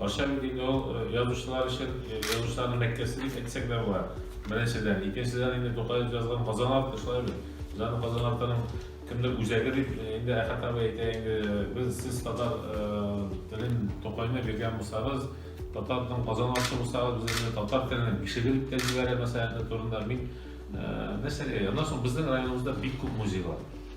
Ашар иде инде ул э, язучылар өчен, э, язучыларның мәккәсе дип әйтсәк тә була. Беренчедән, икенчедән инде Тукаев язган Казан арты шулай бит. Җан Казан артының кемдер үзәге дип э, инде Әхәт абый әйтә инде без сез татар телен Тукайны биргән булсагыз, татарның Казан арты булсагыз, без инде татар телен кешеге дип тә җибәрә мәсьәләсе турында мин нәрсәгә? Аннан соң безнең районыбызда бик күп музейлар.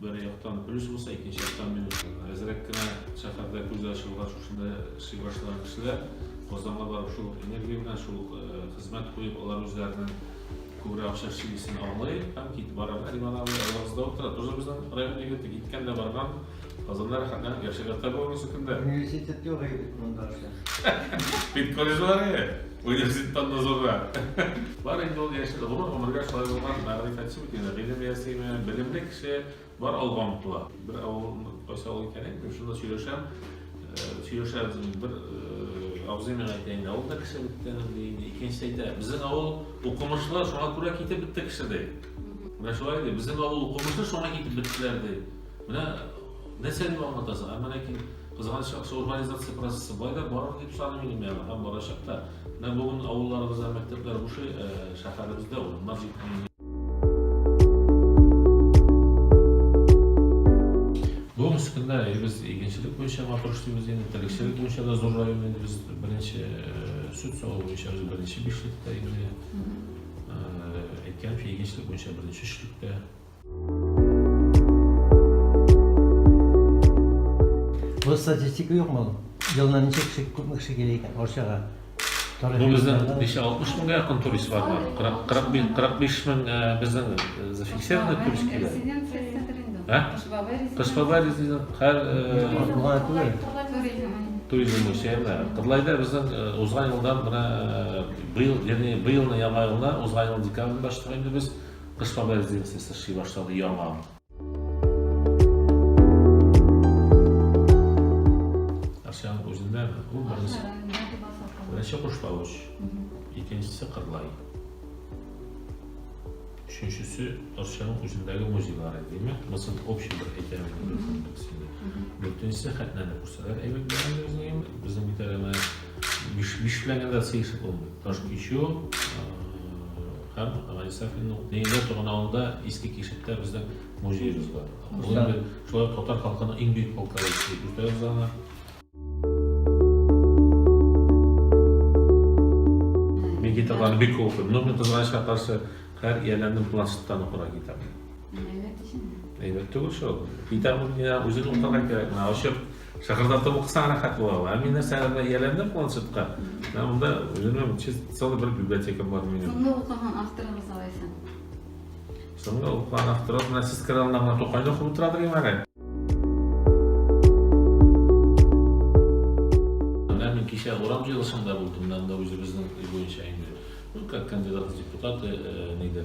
Бер яктан плюс булса, икенче яктан минус. Әзрәк кенә шәһәрдә күз ачылган шушында эшли башлаган кешеләр Казанга барып шул энергия белән, шул хезмәт куеп, алар үзләренең күбрәк акча эшлисен аңлый һәм китеп бара. Риман абый авызда утыра, тоже безнең район егете, киткән дә барган. Казанда рәхәтләнеп яшәгән табуын сөкендә. Университет юк егет монда эшләр. Бит колледжлары. Университеттан назлы. Бар инде ул яшь, гомер гомергә шулай булган, мәгърифәтче бит инде, гыйлем ясыймы, белемле кеше бар алга омтыла. Бер авыл, кайсы авыл икән әйтмим, шунда сөйләшәм, сөйләшәбез инде, бер абзый миңа әйтә инде, авылда кеше бетте инде, ди инде, икенчесе әйтә, безнең авыл укымышлы, шуңа күрә китеп бетте кеше, ди. Менә шулай ди, безнең авыл укымышлы, шуңа китеп беттеләр, ди. Менә нәрсә дип аңлатасың, ә менә Кызганыч яхшы урбанизация процессы болай да бардыр дип саныйм инде мин аны һәм барачак та. Менә бүген авылларыбызда мәктәпләр бушый, э, шәһәребездә урыннар җитми. Бүгенге көндә без игенчелек буенча матур эшлибез инде, терлекчелек буенча да зур район инде без беренче э, сүт саву буенча без беренче бишлектә инде. Э, Әйткәнчә, игенчелек буенча беренче өчлектә. Бу статистика юк мал. Елына ничә кеше күпме кеше килә икән Арчага? Бу безнең 560 меңгә якын турист бар бар. 45 мең э, безнең э, зафиксированный турист килә. Ә? Кышбаба резидент һәр э, туризм үсәлә. Кырлайда безнең узган елдан менә быел, ягъни быелны яңа елны узган ел декабрь башлап инде без Кышлау резиденциясе эшли башлады, яңа. Арчаның үзендәме? Ул беренче. Беренче Кушлавыч, икенчесе Кырлай. Өченчесе Арчаның үзендәге музейлары, димәк, мысал общий бер әйтәләр инде. Дүртенчесе Хәтнәне күрсәләр әйбәт булган безнең, безнең бит әле Биш, биш белән дә сыйсы булмый. Таш көчү һәм Гали Сафинның Нәйлә туган авылында иске кишеттә безнең музеебыз бар. Бүген шулай татар халкының иң бөек полклары дип үтәбез аны. Мин китапларны бик күп укыйм. Но мин кызганычка каршы һәр ияләрнең планшеттан укырга китап. Әйбәт түгел шул. Китап үзен укырга кирәк. Ачып Шыгырдатып укысаң рәхәт була ул. Ә мин нәрсәләргә ияләндем планшетка. Менә монда үземнең чист целый бер библиотекам бар минем. Соңгы укыган авторыгыз алайса? Соңгы укыган авторыбыз менә сез керә алдында гына Тукайны укып утыра дигән әле. Менә мин кичә урам җыелышында булдым, менә монда үзебезнең өй буенча инде. Ну, как кандидат в депутаты, э, нидер.